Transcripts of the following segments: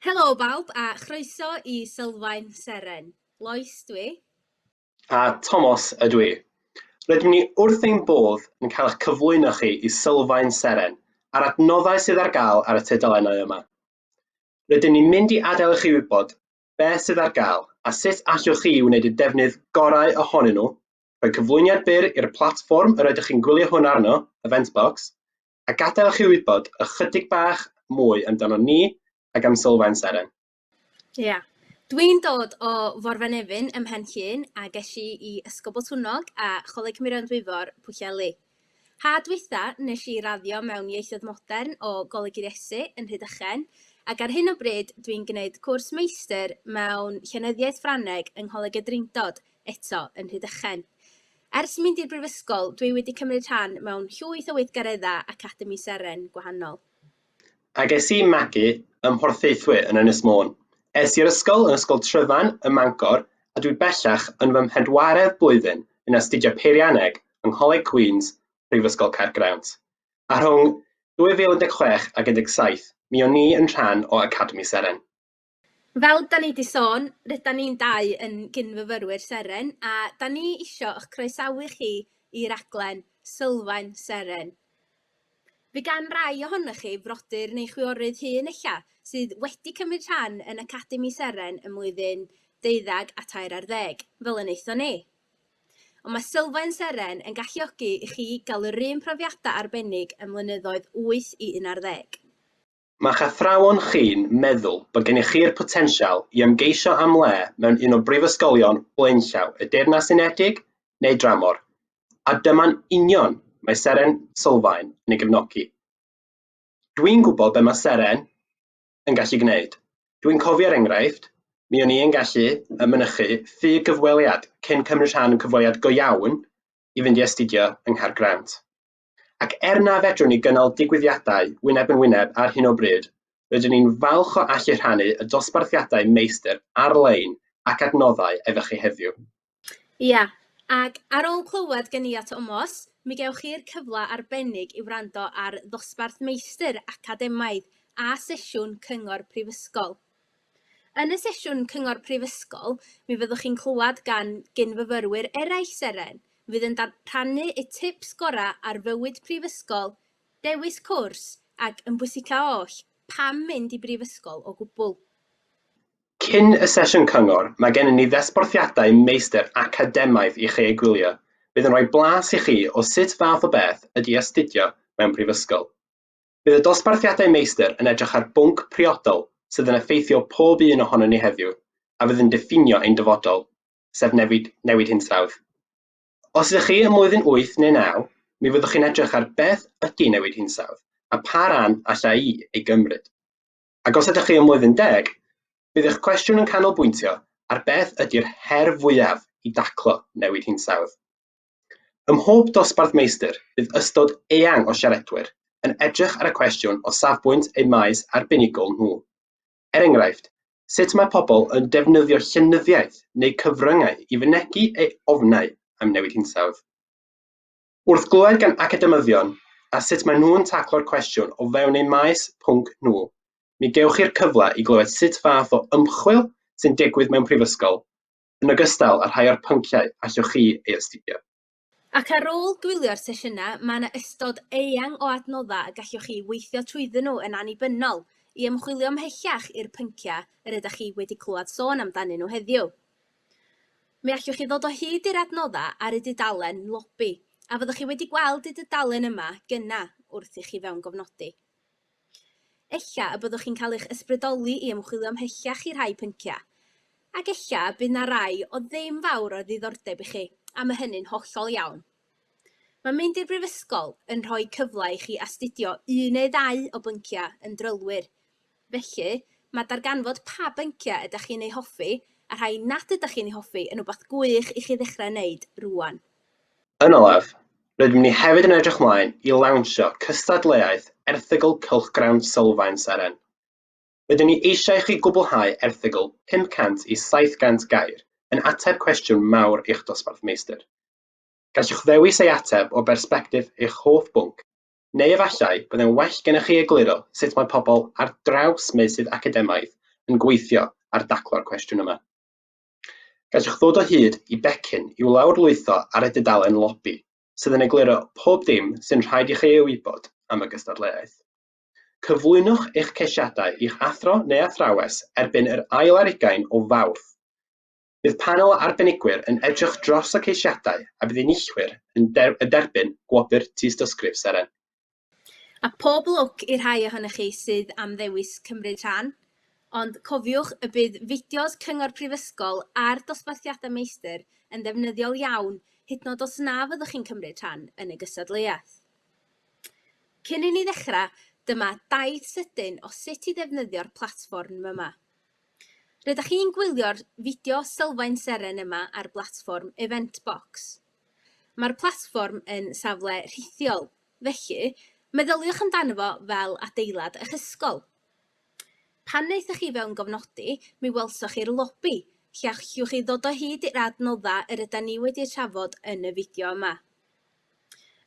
Helo bawb a chroeso i Sylfaen Seren. Lois dwi. A Tomos ydw i. Rydym ni wrth ein bodd yn cael eich cyflwyno chi i Sylfaen Seren a'r adnoddau sydd ar gael ar y tudalennau yma. Rydym ni'n mynd i adael i chi wybod beth sydd ar gael a sut allwch chi wneud y defnydd gorau ohonyn nhw, rhoi cyflwyniad byr i'r platfform yr ydych chi'n gwylio hwn arno, Eventbox, a gadael chi wybod ychydig bach mwy amdano ni ac am Sylfaen Seren. Ie. Yeah. Dwi'n dod o Forfenefin ym Mhen Llŷn a ges i i Ysgol Botwnnog a Choleg Murion Dwyfor, Pwllheli. Ha dwytha, nes i raddio mewn ieithoedd modern o Goleg yr Iesu yn Rhydychen, ac ar hyn o bryd dwi'n gwneud cwrs meistr mewn llenyddiaeth Ffrangeg yng Ngholeg y Drindod, eto yn Rhydychen. Ers mynd i'r brifysgol, dwi wedi cymryd rhan mewn llwyth o weithgareddau Academi Seren gwahanol. A ges i magu ym Mhorthaethwy yn Ynys Môn. Es i'r ysgol yn Ysgol Tryfan ym Mangor a dwi bellach yn fy mhedwaredd blwyddyn yn astudio Peirianneg yng Ngholeg Queen's, Prifysgol Caergrawnt. A rhwng 2016 ac 17, mi o'n i yn rhan o Academi Seren. Fel 'da ni 'di sôn, rydan ni'n dau yn gyn-fyfyrwyr Seren a 'dan ni isio 'ych croesawu chi i raglen Sylfaen Seren. Fe gan rai ohonoch chi frodyr neu chwiorydd hŷn ella sydd wedi cymryd rhan yn Academi Seren ym mlwyddyn deuddeg a tair ar ddeg, fel y wnaethon ni. Ond mae Sylfaen Seren yn galluogi i chi gael yr un profiadau arbennig ym mlynyddoedd wyth i un ar ddeg. Mae'ch athrawon chi'n meddwl bod gennych chi'r potensial i ymgeisio am le mewn un o brifysgolion blaenllaw y Deyrnas Unedig neu dramor, a dyma'n union mae Seren Sylfaen yn ei gefnogi. Dwi'n gwybod be mae Seren yn gallu gwneud. Dwi'n cofio er enghraifft, mi o'n i yn gallu y mynychu ffug gyfweliad cyn cymryd rhan yn cyfweliad go iawn i fynd i astudio yng Nghaergrawnt. Ac er na fedrwn ni gynnal digwyddiadau wyneb yn wyneb ar hyn o bryd, rydyn ni'n falch o allu rhannu y dosbarthiadau meistr ar-lein ac adnoddau efo chi heddiw. Ia, ac ar ôl clywed gen i a Tomos, mi gewch chi'r cyfle arbennig i wrando ar ddosbarth meistr academaidd a sesiwn cyngor prifysgol. Yn y sesiwn Cyngor Prifysgol, mi fyddwch chi'n clywed gan gyn-fyfyrwyr eraill Seren, fydd yn rhannu y tips gorau ar fywyd prifysgol, dewis cwrs, ac yn bwysica oll, pam mynd i brifysgol o gwbl. Cyn y sesiwn Cyngor, mae gennym ni ddesborthiadau meistr academaidd i chi eu gwylio, fydd yn rhoi blas i chi o sut fath o beth ydy astudio mewn prifysgol. Bydd y dosbarthiadau meistr yn edrych ar bwnc priodol sydd yn effeithio pob un ohonon ni heddiw a fydd yn diffinio ein dyfodol, sef newid, newid hinsawdd. Os ydych chi ym mlwyddyn wyth neu naw, mi fyddwch chi'n edrych ar beth ydy newid hinsawdd a pa ran allai i ei gymryd. Ac os ydych chi ym mlwyddyn deg, bydd eich cwestiwn yn canolbwyntio ar beth ydy'r her fwyaf i daclo newid hinsawdd. Ym mhob dosbarth meistr, bydd ystod eang o siaradwyr yn edrych ar y cwestiwn o safbwynt eu maes arbenigol nhw. Er enghraifft, sut mae pobl yn defnyddio llenyddiaeth neu cyfryngau i fynegi eu ofnau am newid hinsawdd? Wrth glywed gan academyddion a sut maen nhw'n taclo'r cwestiwn o fewn eu maes pwnc nhw, mi gewch chi'r cyfle i glywed sut fath o ymchwil sy'n digwydd mewn prifysgol, yn ogystal â rhai o'r pynciau allwch chi ei astudio. Ac ar ôl gwylio'r sesiynau, mae yna ystod eang o adnoddau y gallwch chi weithio trwyddyn nhw yn annibynnol i ymchwilio ymhellach i'r pynciau yr ydych chi wedi clywed sôn amdanyn nhw heddiw. Mi allwch chi ddod o hyd i'r adnoddau ar y dudalen Lobi, a fyddwch chi wedi gweld y dudalen yma gyna' wrth i chi fewngofnodi. Ella y byddwch chi'n cael eich ysbrydoli i ymchwilio ymhellach i rhai pynciau, ac ella y bydd 'na rai o ddim fawr o ddiddordeb i chi, a mae hynny'n hollol iawn. Mae mynd i'r brifysgol yn rhoi cyfle i chi astudio un neu ddau o bynciau yn drylwyr, felly mae darganfod pa bynciau ydych chi'n eu hoffi a rhai nad ydych chi'n eu hoffi yn rhywbeth gwych i chi ddechrau ei wneud rŵan. Yn olaf, Rydym ni hefyd yn edrych mlaen i lawnsio cystadleuaeth erthygl cylchgrawn sylfaen seren. Rydyn ni eisiau i chi gwblhau erthygl 500 i 700 gair yn ateb cwestiwn mawr eich dosbarth meistr. Gallwch ddewis ei ateb o bersbectif eich hoff bwnc, neu efallai byddai'n well gennych chi egluro sut mae pobl ar draws meysydd academaidd yn gweithio ar daclo'r cwestiwn yma. Gallwch ddod o hyd i becyn i'w lawrlwytho ar y dudalen lobi, sydd yn egluro pob dim sy'n rhaid i chi ei wybod am y gystadleuaeth. Cyflwynwch eich ceisiadau i'ch athro neu athrawes erbyn yr ail ar ugain o Fawrth. Bydd panel o arbenigwyr yn edrych dros y ceisiadau a bydd enillwyr yn derbyn Gwobr Tystysgrif Seren. A phob lwc i'r rhai ohonoch chi sydd am ddewis cymryd rhan, ond cofiwch y bydd fideos Cyngor Prifysgol a'r dosbarthiadau meistr yn ddefnyddiol iawn hyd nod os na fyddwch chi'n cymryd rhan yn y gystadleuaeth. Cyn i ni ddechrau, dyma daith sydyn o sut i ddefnyddio'r platfform yma. Rydych chi'n gwylio'r fideo sylfaen seren yma ar blatfform Eventbox. Mae'r platfform yn safle rhithiol Felly, meddyliwch amdano fo fel adeilad eich ysgol. Pan wnaethoch chi fewn gofnodi, mi welsoch chi'r lobi, lle allwch chi ddod o hyd i'r adnodda yr yda ni wedi eu trafod yn y fideo yma.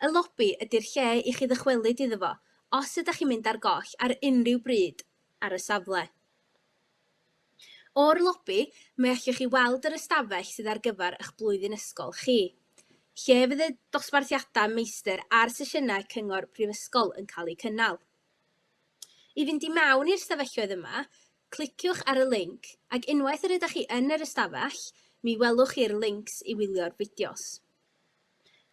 Y lobi ydy'r lle i chi ddychwelyd iddo fo os ydych chi'n mynd ar goll ar unrhyw bryd ar y safle. O'r lobi, mi allwch chi weld yr ystafell sydd ar gyfer eich blwyddyn ysgol chi, lle fydd y dosbarthiadau meistr a'r sesiynau cyngor prifysgol yn cael eu cynnal. I fynd i mewn i'r stafelloedd yma, cliciwch ar y linc, ac unwaith yr ydych chi yn yr ystafell, mi welwch chi'r lincs i wylio'r fideos.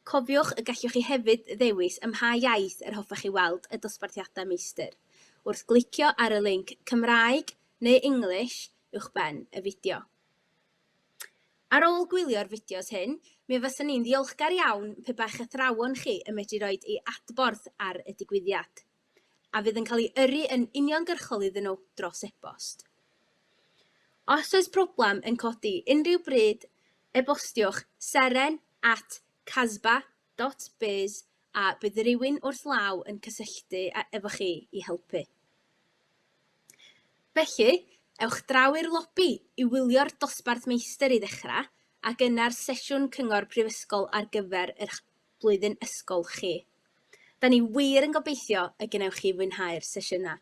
Cofiwch y gallwch chi hefyd ddewis ym mha iaith yr hoffech chi weld y dosbarthiadau meistr, wrth glicio ar y linc Cymraeg neu English uwchben y fideo. Ar ôl gwylio'r fideos hyn, mi fyswn i'n ddiolchgar iawn pe bai'ch athrawon chi yn medru rhoi ei adborth ar y digwyddiad. a fydd yn cael ei yrru yn uniongyrchol iddyn nhw dros e-bost. Os oes problem yn codi unrhyw bryd, e-bostiwch seren at casba.biz a bydd rhywun wrth law yn cysylltu efo chi i helpu. Felly, ewch draw i'r lobi i wylio'r dosbarth meistr i ddechrau ac yna'r sesiwn cyngor prifysgol ar gyfer yr blwyddyn ysgol chi. Da ni wir yn gobeithio y gwnewch chi fwynhau'r sesiynau.